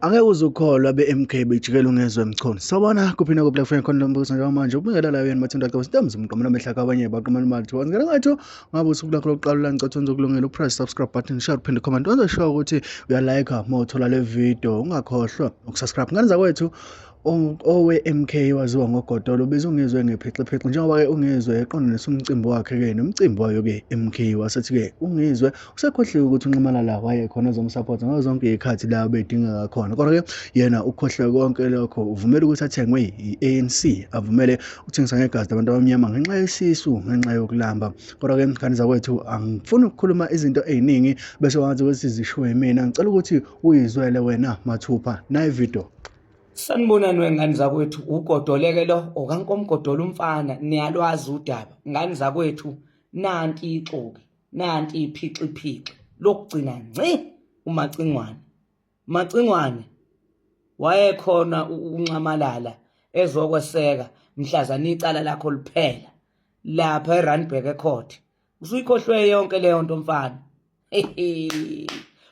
Angeke uze ukholwa be-MK bejikela ungezwe emchunu. Sawubona kuphi nakuphi la kufanele khona lo mbukiso njengoba manje ukubingelela la yena mathinda xa usithe mzimqo mina mehla kwabanye baqhumana imali thiwa ngena ngathi ngabe usuku lakho lokuqala ulangicatha wenza ukulungela upress subscribe button share uphinde comment wenza sure ukuthi uyalike uma uthola le video ungakhohlwa ukusubscribe ngane zakwethu owe-MK waziwa ngoGotolo ubezungezwe ngephixiphixa njengoba-ke ungizwe eqondanisa umcimbi wakhe-ke nomcimbi wayo-ke MK wasethi-ke ungizwe usekhohliwe ukuthi unxamalala wayekhona ezomsapota ngazo zonke iy'khathi la bedingeka khona kodwa-ke yena ukhohliwe konke lokho uvumele ukuthi athengwe i-anc avumele ukuthengiswa ngegazi labantu abamnyama ngenxa yesisu ngenxa yokulamba kodwa-ke mkhani zakwethu angifuni ukukhuluma izinto ey'ningi bese wangathi ukuthi zishiwo yimina ngicela ukuthi uyizwele wena mathupha nayi video Sanibonani wengane zakwethu ugodoleke lo okankomgodola umfana niyalwazi udaba ngane zakwethu nanti ixoki nanti iphixiphixi lokugcina nci umacingwane macingwane wayekhona ukunxamalala ezokweseka mhlazana icala lakho liphela lapha eRandburg eCourt usuyikhohlwe yonke leyo nto mfana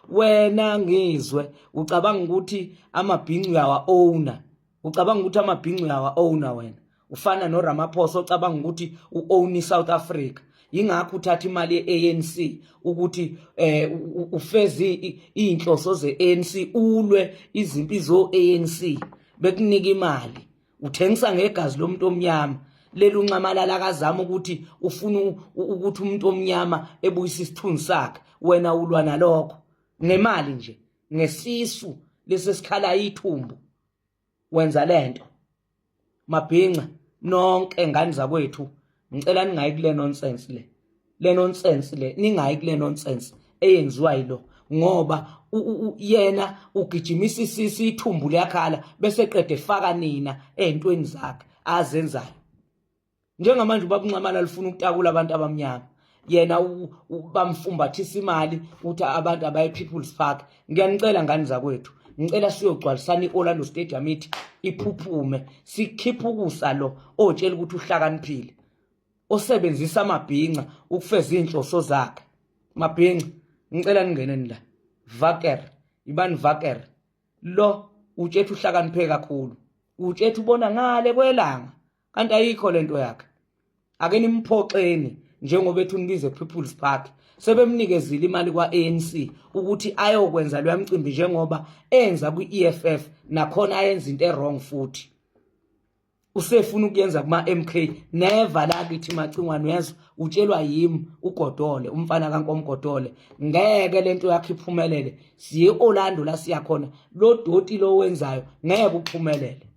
wena ngizwe ucabanga ukuthi amabhincu uyawa owner ucabanga ukuthi amabhincu uyawa owner wena ufana noRamaphosa ocabanga ukuthi uown iSouth Africa ingakho uthatha imali yeANC ukuthi eh ufeze izinhloso zeANC ulwe izimpi zoANC bekunika imali uthengisa ngegazi lomuntu omnyama leli unxamalala akazama ukuthi ufuna ukuthi umuntu omnyama ebuyise isithunzi sakhe wena ulwa nalokho ngemali nje ngesisu lesesikhala ithumbu wenza lento mabhinca nonke ngani zakwethu ngicela ningayi kule nonsense le le nonsense le ningayi kule nonsense eyenziwa yilo ngoba yena ugijimisa isisi ithumbu liyakhala bese qede faka nina ezintweni zakhe azenzayo njengamanje ubabunxamala lifuna ukutakula abantu abamnyama yena bamfumbathisa imali ukuthi abantu abaye people's park ngiyanicela ngani zakwethu ngicela siyogcwalisana i-orlando stadium ithi iphuphume sikhiphe ukusa lo otshela ukuthi uhlakaniphile osebenzisa amabhinca ukufeza izinhloso zakhe mabhinca ngicela ningeneni la vaker ibani vaker lo utshethu uhlakaniphe kakhulu utshethu ubona ngale kwelanga kanti ayikho lento yakhe ake nimphoxeni njengoba ethi unibize people's park sebemnikezile imali kwa-anc ukuthi ayokwenza loya mcimbi njengoba enza kwi-eff nakhona ayenza into erong futhi usefuna ukuyenza kuma MK never la kithi macingwane yezwa utshelwa yimi ugodole umfana kankomgodole ngeke lento yakhe iphumelele siye Orlando la siya khona lo doti lo wenzayo ngeke uphumelele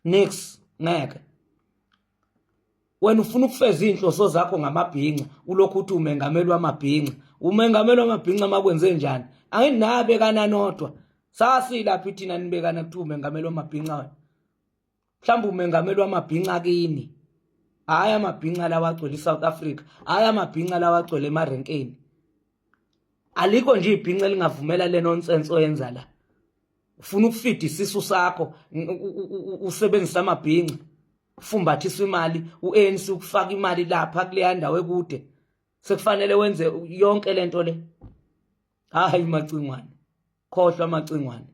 next ngeke wena ufuna ukufeza izinhloso zakho ngamabhinca ulokhu uthi umengameli wamabhinca umengameli wamabhinca makwenze njani anginabe kananodwa sasilaphi thina nibekana kuthi umengameli wamabhinca wena mhlawumbe umengameli wamabhinca kini hhayi amabhinca lawa agcwele i-south africa hhayi amabhinca lawa agcwele emarenkeni alikho nje ibhinca elingavumela le nonsense oyenza la ufuna ukufida isisu sakho usebenzisa amabhinca kufumbathiswa imali uANC ukufaka imali lapha kuleya ndawo ekude sekufanele wenze yonke lento le hayi macingwane khohlwa amacingwane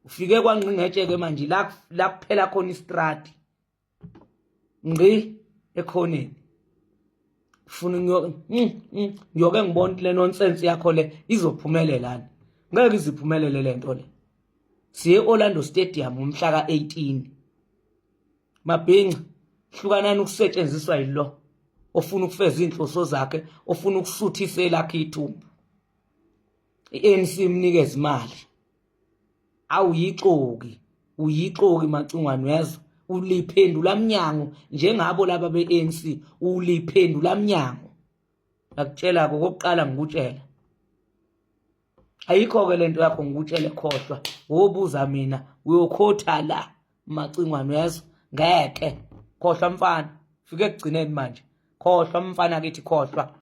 ufike kwangqingetshe ke manje la la kuphela khona istrati ngqi ekhoneni ufuna ngiyoke mm, mm, ngiyoke ngibona le nonsense yakho le izophumelela ngeke iziphumelele lento le siye Orlando Stadium umhla ka18 mabhinca hlukanani ukusetshenziswa yilo ofuna ukufeza izinhloso zakhe ofuna ukusuthisa elakhe ithumbu iANC imnikeza imali awuyixoki uyixoki macingwane uyazwa uliphendula mnyango njengabo laba beANC uliphendula mnyango ngakutshela kokuqala ngikutshela ayikho-ke le nto yakho ngikutshele khohlwa wobuza mina uyokhotha la macingwane uyezwa ngeke khohlwa mfana fike ekugcineni manje khohlwa mfana kithi khohlwa